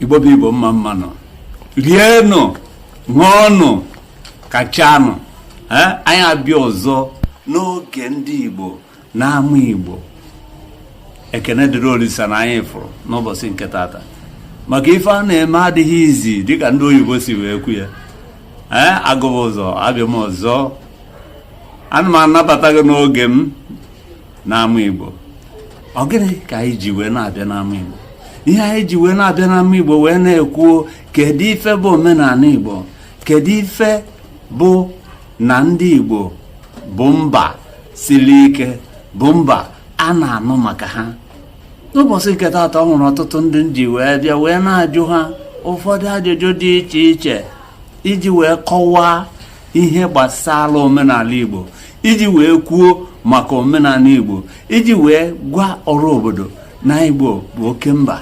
igbo bụ igbo mma mmanụ rienụ ṅụọnụ kachanụ anyị abịa ọzọ n'oge ndị igbo n'ama igbo ekene dịrị olisa na anyị fụrụ n'ụbọsị nke tata maka ife a na-eme adịghị easy dịka ndị oyibo si wee kwu ya ee agụba ụzọ abịa m ọzọ ana m anabata gị n'oge m n'ama Igbo ọ gịnị ka anyị ji wee na-abịa n'ama Igbo ihe anyị ji wee na-abịa n'ama Igbo wee na-ekwuo kedu ife bụ omenala Igbo kedu ife bụ na ndị Igbo bụ mba sili ike bụ mba a na-anụ maka ha n'ụbọsị nke tata ọ nwere ọtụtụ ndị m ji wee bịa wee na-ajụ ha ụfọdụ ajụjụ dị iche iche iji wee kọwaa ihe gbasara omenala Igbo iji wee kwuo maka omenala igbo iji wee gwa ọra obodo na igbo bụ oke mba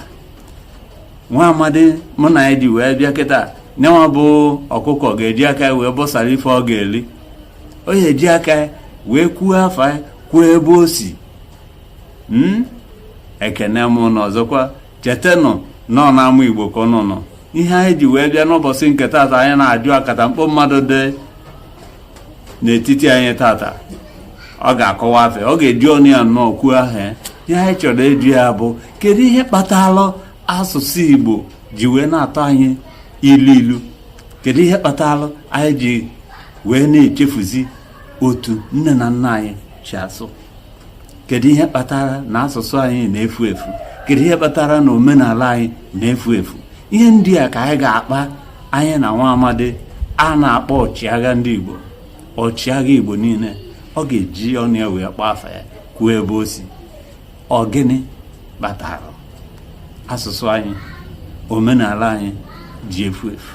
nwa amadi mụ na ya ji wee bịa kịta nyanwa bụ ọkụkọ ga-eji aka ya wee bọsara ife ọ ga-eli ọ ya-eji aka ya wee kwuo afa ya kwuo ebe o si ekene m ụnụ ọzọkwa chetanụ na ọ n'ama igbo ka ụnụ nọ ihe anyị ji wee bịa n'ụbọsị nke tata anyị na-ajụ akatamkpo mmadụ dị n'etiti anyị tata ọ ga-akọwa afa ọ ga-eji ọnụ ya nnọọ kwuo aha ya ihe anyị chọrọ ịjụ ya bụ kedu ihe kpatalụ asụsụ igbo ji wee na-atọ anyị ilu ilu kedu ihe kpatalụ anyị ji wee na-echefuzi otu nne na nna anyị si asụ kedu ihe kpatara na asụsụ anyị na-efu efu kedu ihe kpatara na omenala anyị na-efu efu ihe ndị a ka anyị ga-akpa anyị na nwa amadi a na-akpọ ọchịagha ndị igbo ọchịagha igbo niine ọ ga-eji ọnụ ya wee kpọọ afa ya kwuo ebe o si ọ gịnị kpatara asụsụ anyị omenala anyị ji efu efu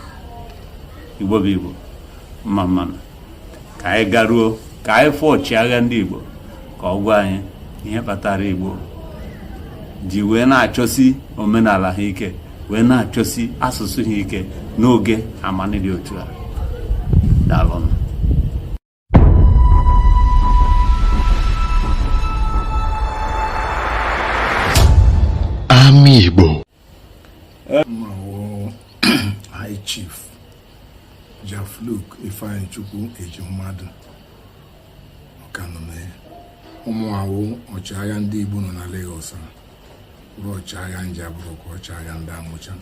igbo bụ igbo mma mmanụ ka anyị garuo ka anyị fụ ọchịagha ndị Igbo ka ọ gwa anyị ihe kpatara Igbo ji wee na-achọsi omenala ha ike wee na-achọsi asụsụ ha ike n'oge amani dị otu a daalụnụ ama Igbo High Chief Jafluk Ifeanyichukwu Ejimmadụ Ọkanụme ọ mụa wụ ọchịagha ndị Igbo nọ na Lagos bụrụ ọchịagha Njaba bụrụkwa ọchịagha ndị Amucha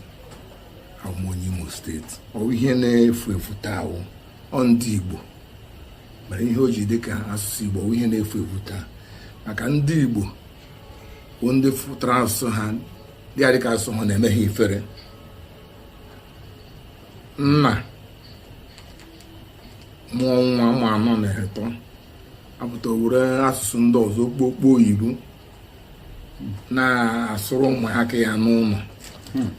abụ m onye Imo steeti ọ wụ ihe na-efu efu taa wụ ọ ndị Igbo mere ihe o ji dị ka asụsụ Igbo ọ wụ ihe na-efu efu taa maka ndị Igbo bụ ndị fụtara asụsụ ha dị adịka asụsụ ha na-eme ha ifere nna mụọ nwa nwa anọ na-eto apụta were asụsụ ndị ọzọ okpokpo oyibo na-asụrụ ụmụaka ya n'ụlọ hmm.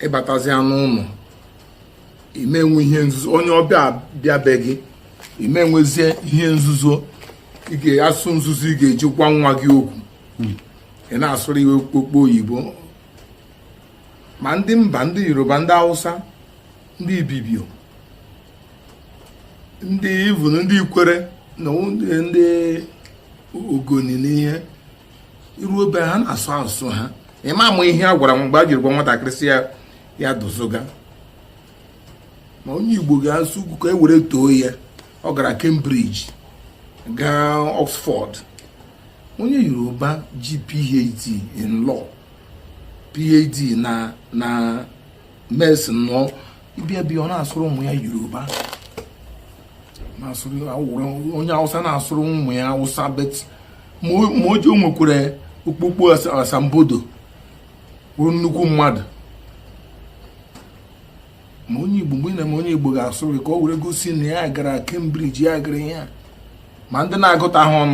ị batazia n'ụlọ ị ma enwe ihe nzuzo onye ọbịa bịa be gị ị ma enwezi ihe nzuzo ị ga-asụ nzuzo ị ga-eji gwa nwa gị okwu hmm. ị na-asụrụ iwe okpokpo oyibo ma ndị mba ndị yoruba ndị hausa ndị ibibio ndị even ndị ikwere na ndị ogoni n'ihe i ruo be ha na-asụ asụsụ ha ị ma ama ihe a gwara nwa mgbe e jiri gwa nwatakịrị si ya ya dozoga ma onye igbo ga-asụkwu ka e were too ya ọ gara Cambridge gaa Oxford onye yoruba ji phd in law phd na na medicine ị bịa be ya ọ na-asụrụ ụmụ ya yoruba na-asụrụ onye awụsa na-asụrụ ụmụ ya awụsa but ma o ji o nwekwara okpokpo asambodo bụrụ nnukwu mmadụ ma onye igbo mgbe ị na-eme onye igbo ga-asụrụ ka o were gosi na ya gara Cambridge ya gara ihe a ma ndị na-agụta ha ọnụ